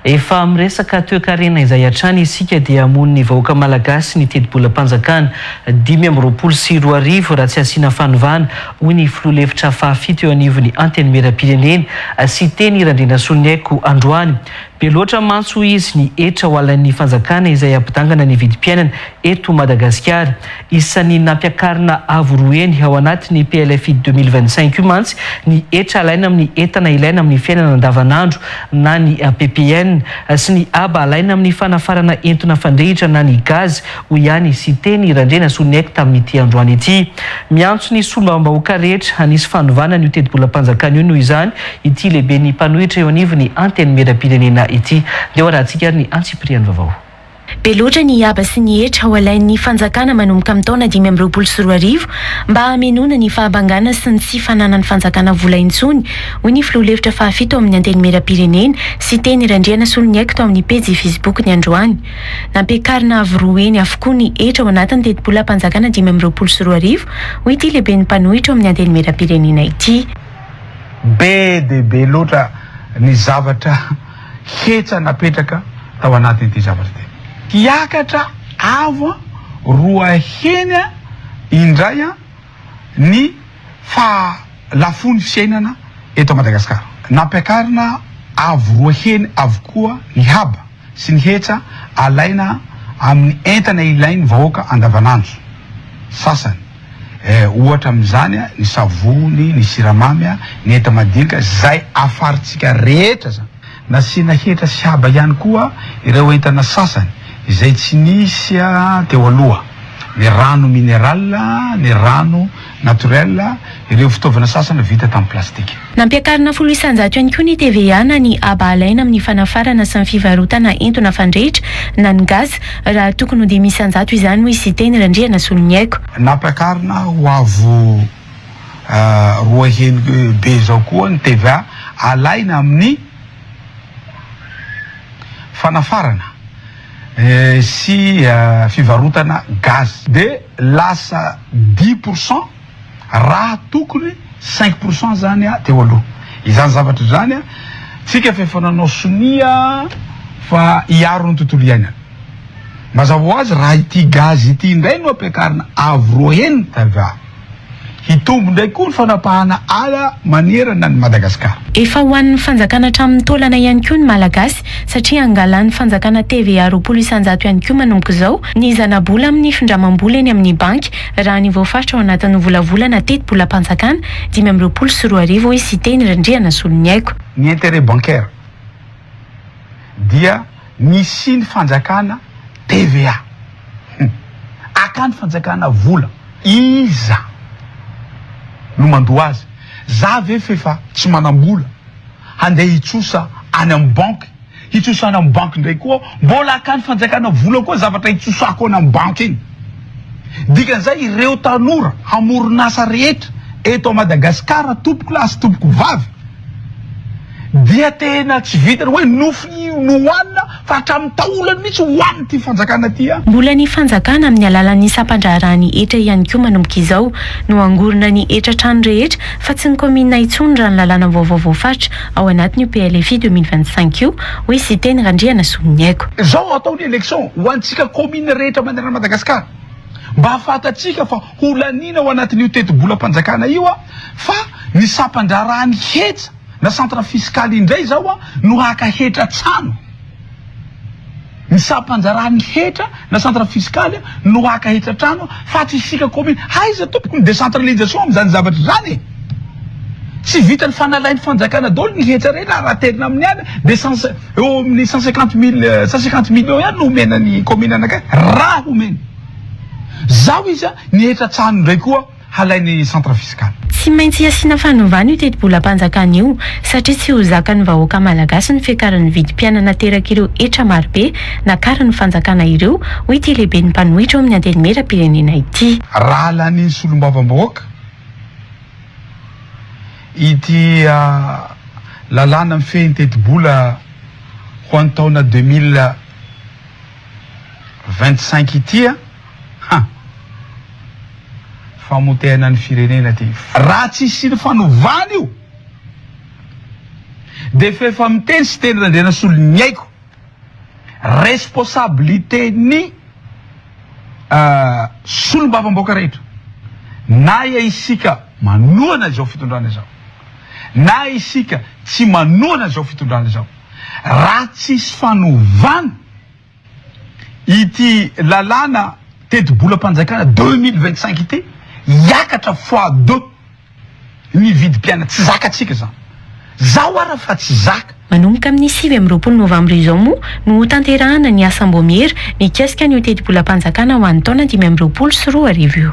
Efa miresaka toekarena izay hatrany isika dia hamono ny vahoaka malagasy ny tetibolam-panjakana dimy amby roapolo sy roa arivo raha tsy asiana fanovana, hoy ny filoha lefitra fahafito eo anivon'ny Antenimierampirenena, Siteny Randrianasoniaiko androany. Be loatra mantsy hoy izy ny hetra ho halan'ny fanjakana izay hampidangana ny vidim-piainana eto Madagasikara. Isan'ny nampiakarina avo roa heny ao anatin'ny PLFI deux mille vingt cinq io mantsy ny hetra alaina amin'ny entana ilaina amin'ny fiainana andavanandro na ny ppn sy ny haba alaina amin'ny fanafarana entona fandrehitra na ny gaz, hoy ihany i Siteny Randrianasoniaiko tamin'ity androany ity. Miantso ny solombavambahoaka rehetra hanisy fanovana an'io tetibolam-panjakana io noho izany ity lehiben'ny mpanohitra eo anivon'ny Antenimierampirenena ity. Ndeha hoarahantsika ary ny antsipiriany vaovao. Be loatra ny haba sy ny hetra ho alain'ny fanjakana manomboka amin'ny taona dimy amby roapolo sy roa arivo mba hamenoana ny fahabangana sy ny tsy fananan'ny fanjakana vola intsony, hoy ny filoha lefitra fahafito amin'ny Antenimierampirenena, Siteny Randrianasoloniaiko tao amin'ny pejy Facebook-ny androany. Nampiakarina avo roa heny avokoa ny hetra ao anatin'ny tetibolam-panjakana dimy amby roapolo sy roa arivo, hoy ity lehiben'ny mpanohitra ao amin'ny Antenimierampirenena ity. Be dia be loatra ny zavatra. hetsa napetraka tao anatin'ity zavatra ity. Hiakatra avo an roa heny an indray an ny faha lafon'ny fiainana eto Madagascar. Nampiakarina avo roa heny avokoa ny haba sy ny hetsa alaina amin'ny entana ilain'ny vahoaka andavanandro. Sasany. Eh, ohatra amin'izany ny savony, ny siramamy, ny enta-madinika, izay afarintsika rehetra izany. Nasiana hetra sy haba ihany koa ireo entana sasany izay tsy nisy teo aloha, ny rano mineral, ny rano naturel, ireo fitaovana sasany vita tamin'ny plastika. Nampiakarina folo isanjato ihany koa ny TVA na ny haba alaina amin'ny fanafarana sy ny fivarotana entona fandrehitra na ny gaz raha tokony ho dimy isanjato izany, hoy Siteny Randrianasoloniaiko. Nampiakarina ho avo roa heny be izao koa ny TVA alaina amin'ny fanafarana sy fivarotana gaz dia lasa dix pour cent. Raha tokony cinq pour cent zany a teo aloha izany zavatra izany a, tsika f'efa nanao sonia fa hiaro ny tontolo iainana. Mazava ho azy raha ity gaz ity indray no ampiakarina avo roa heny tava, hitombo indray koa ny fanapahana ala manerana an'i Madagasikara. Efa ho an'ny fanjakana hatramin'ny taolana ihany koa ny Malagasy satria angalan'ny fanjakana TVA roapolo isan-jato ihany koa manomboka izao ny zana-bola amin'ny findramam-bola eny amin'ny banky Raha ny voafaritra ao anatin'ny volavolana tetibolam-panjakana dimy amby roapolo sy roa arivo, hoy Siteny Randrianasoloniaiko. Ny intérêt bancaire dia nisian'ny fanjakana TVA. Hum. Akany fanjakana vola. Iza no mandoa azy? Za ve f'efa tsy manam-bola handeha hitsosa any amin'ny banky? Hitsosana am banky ndray koa aho, mbola akany fanjakana vola koa zavatra hitsosako any am banky iny. Dikan'izay ireo tanora hamoron'asa rehetra eto Madagasikara tompoko lahy sy tompoko vavy dia tena tsy vitan'ny hoe nofy no hohanina fa hatramin'ny taolany mihitsy hohanin'ity fanjakana ity an. Mbola ny fanjakana amin'ny alalan'ny sampandraharahany hetra ihany koa manomboka izao no hangorona ny hetra trano rehetra fa tsy ny kaominina intsony raha ny lalàna vaovao voafaritra ao anatin'io PLFI deux mille vingt cinq io, hoy Siteny Randrianasoloniaiko. Izao atao ny election ho antsika commune rehetra manerana Madagascar mba hahafantatsika fa ho laniana ao anatin'io tetibolam-panjakana io fa ny sampan-draharaha ny hetra na centre fiscal indray izao no haka hetra an-tsano. Ny sampanjaran'ny hetra na centre fiscal no haka hetra trano fa tsy isika commune. Aiza tompoko ny décentralisation amin'izany zavatra izany e? Tsy vitan'ny fanalain'ny fanjakana daholo ny hetra reny raha raterina amin'ny ala dia cent eo amin'ny cent cinquante mille cent cinquante millions ihany no omena ny commune anakay raha omeny. Zaho izy a, ny hetra an-tsano indray koa. halain'ny centre fiscal. Tsy maintsy asiana fanovana io tetibolam-panjakana io satria tsy ho zakan'ny vahoaka malagasy ny fiakaran'ny vidim-piainana aterak'ireo hetra marobe nakarin'ny fanjakana ireo, hoy ity lehiben'ny mpanohitra eo amin'ny antenimieram-pirenena ity. Raha lanian'ny solombavambahoaka ity lalàna mifehy ny tetibola ho an'ny taona deux mille vingt-cinq ity, Ha! Famotehana ny firenena ty. Raha tsy hisian'ny fanovana io dia f'efa miteny Siteny Randrianasolo ny aiko. Responsabilité ny solombavambaoka rehetra. Na ia isika manohana izao fitondrana izao na isika tsy manohana izao fitondrana izao. Raha tsisy fanovana. Ity lalàna tetibolam-panjakana deux mille vingt cinq ity hiakatra fois deux ny vidim-piainana. Tsy zakantsika izany. Zao ara fa tsy zaka. Manomboka amin'ny sivy amby roapolo novambra izao moa no hotanterahana ny asam-boamiera mikasika an'io tetibolam-panjakana ho an'ny taona dimy amby roapolo sy roa arivo io.